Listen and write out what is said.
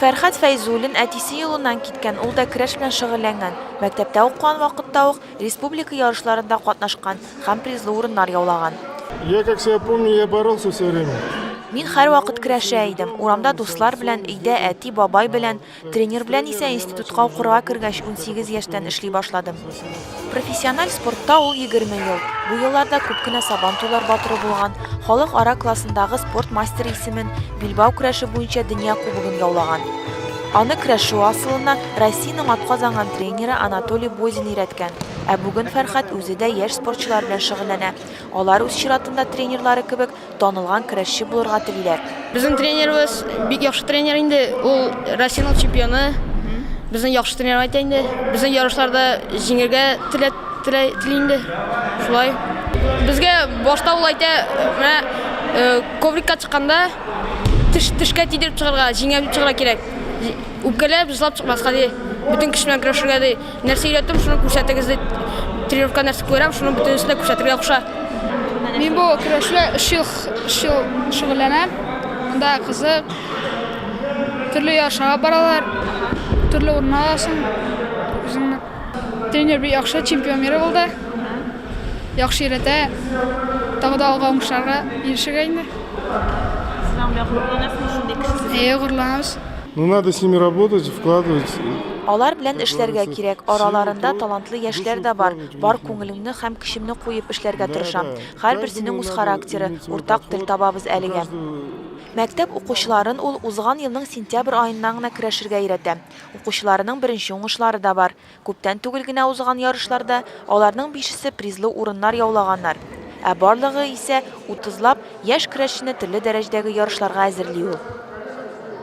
Фәрхәт Фәйзуллин әтисе юлыннан киткән, ул да көрәш белән шөгыльләнгән. Мәктәптә укыган вакытта ук республика ярышларында катнашкан һәм призлы урыннар яулаган. Я как себя помню, я боролся все время. Мин һәрвакыт көрәшә идем. Урамда дуслар белән, өйдә әти, бабай белән. Тренер белән исә институтка укырга кергәч, унсигез яшьтән эшли башладым. Профессиональ спортта ул егерме ел. Бу елларда күп кенә Сабантуйлар батыры булган, халык ара классындагы спорт мастеры исемен, билбау көрәше буенча дөнья кубогын яулаган. Аны көрәшү асылына Россиянең атказанган тренеры Анатолий Бозин өйрәткән. Ә бүген Фәрхәт үзе дә яшь спортчылар белән шөгыльләнә. Алар үз чиратында тренерлары кебек танылган көрәшче булырга телиләр. Безнең тренерыбыз бик яхшы тренер инде, ул Россиянең чемпионы. Безне яхшы тренер итә инде. Безне ярышларда җиңергә тели инде. Шулай. Безгә башта ул әйтә, менә э, коврикка чыкканда теш тешкә тидереп чыгарга, җиңәм чыгарга кирәк. Үпкәләп, җыслап чыкмаска ди. Бөтен көч белән көрәшергә ди. Нәрсә өйрәттем, шуны күрсәтегез дип тренировка нәрсә күрәм, шуны бөтенесен дә күрсәтергә куша. Мин бу көрәшле 3 ел 3 ел шөгыльләнәм. Монда кызык. Төрле ярышларга баралар. Төрле урынга аласың. Үзеңне тренер бик яхшы, чемпион мира булды. Яхшы өйрәтә. Тагы да алга уңышларга ирешергә инде. Сез аңа горурланасызмы шундый кешесез? Әйе, горурланабыз. Ну надо с ними работать, вкладывать. Алар белән эшләргә кирәк. Араларында талантлы яшьләр дә бар. Бар күңелеңне һәм көчемне куеп эшләргә тырышам. Һәрберсенең үз характеры, уртак тел табабыз әлегә. Мәктәп укучыларын ул узган елның сентябрь аеннан гына көрәшергә өйрәтә. Укучыларының беренче уңышлары да бар. Күптән түгел генә узган ярышларда аларның бишесе призлы урыннар яулаганнар. Ә барлыгы исә, утызлап, яшь көрәшчене төрле дәрәҗәдәге ярышларга әзерли ул.